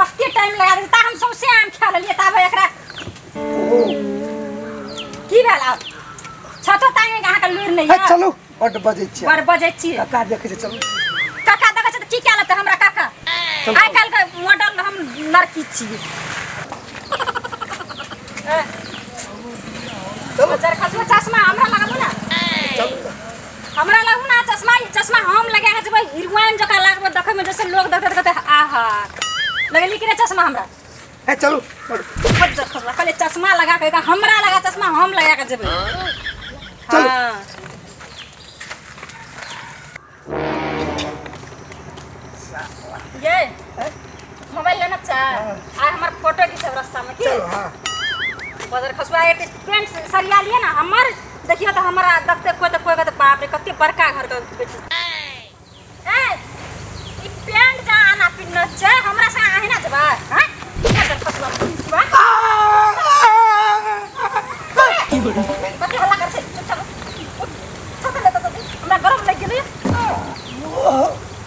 कते टाइम लगा दे ता हम सौंसे आम खा लेलिए ता भाई एकरा की भेल आब छतो तांगे कहाँ के लूर नहीं है है चलू बड बजै छियै बड़ बजै छी काका देखै छै चलू काका देखै छै तऽ की कए लेतै हमरा काका आइ काल्हि के मॉडल हम लड़की छियै चलू चरखा चश्मा हमरा लगाबू ने चलू हमरा लगू ना चश्मा ई चश्मा हम लगा के जेबै हीरोइन जका लागबो देखै में जैसे लोग देखत कहते आहा लगली कि रे चश्मा हमरा ए चलू बड़ देखबला पहले चश्मा लगा के एका हमरा लगा चश्मा हम लगा के जेबै चलू। हाँ ये मोबाइल लेना चाह आ हमर फोटो खींचब रास्ता में की चलो हाँ बदर खसुआ एक पेंट से सरिया लिए ना हमर देखियो तो हमरा देखते कोई तो कोई कहते बाप रे कते बड़का घर के बेटी ए ई पेंट का आना पिन्ना छै हमरा से आहे ना जबा हां बदर खसुआ खसुआ कते हल्ला कर छै चुपचाप उठ। उठ। छाता लेता तो हमरा गरम लग गेलै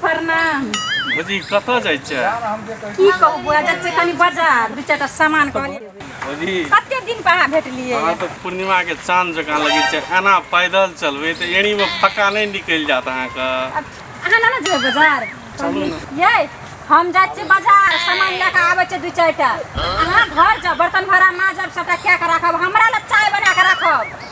प्रणाम भौजी कतऽ जाइ छै की कहू बुआ जाइ छै कनी बाजार दू चारिटा सामान कहलिए भौजी कते दिन पर अहाँ भेटलिए अहाँ तऽ पूर्णिमा के चांद जकाँ लगै छै एना पैदल चलबै तऽ एड़ी में फक्का नहि निकलि जात अहाँके अहाँ ना जेबै बाजार चलू ने ये हम जाइ छी बाजार सामान लए कऽ आबै छै दू चारिटा अहाँ घर जाउ बर्तन भरा माजब सबटा कए कऽ राखब हमरा लए चाय बना कऽ राखब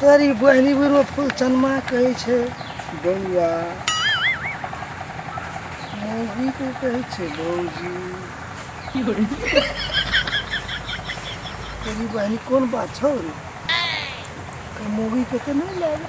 तेरी बहनी बुरो फूल चनमा कहै छै बौआ मौगी को कहै छै भौजी तेरी बहनी कोन बात छौ रे मौगी के तऽ नहि लागे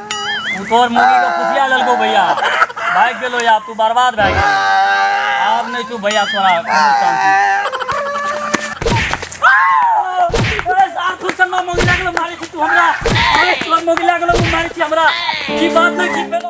तू तोर मुर्गी को खुशिया ललको भैया भाग गेलो या तू बर्बाद भाग गेलो आब नहीं तू भैया तोरा मारे छी तू हमरा अरे तोर मोगी लागलो मारे छी हमरा की बात ना की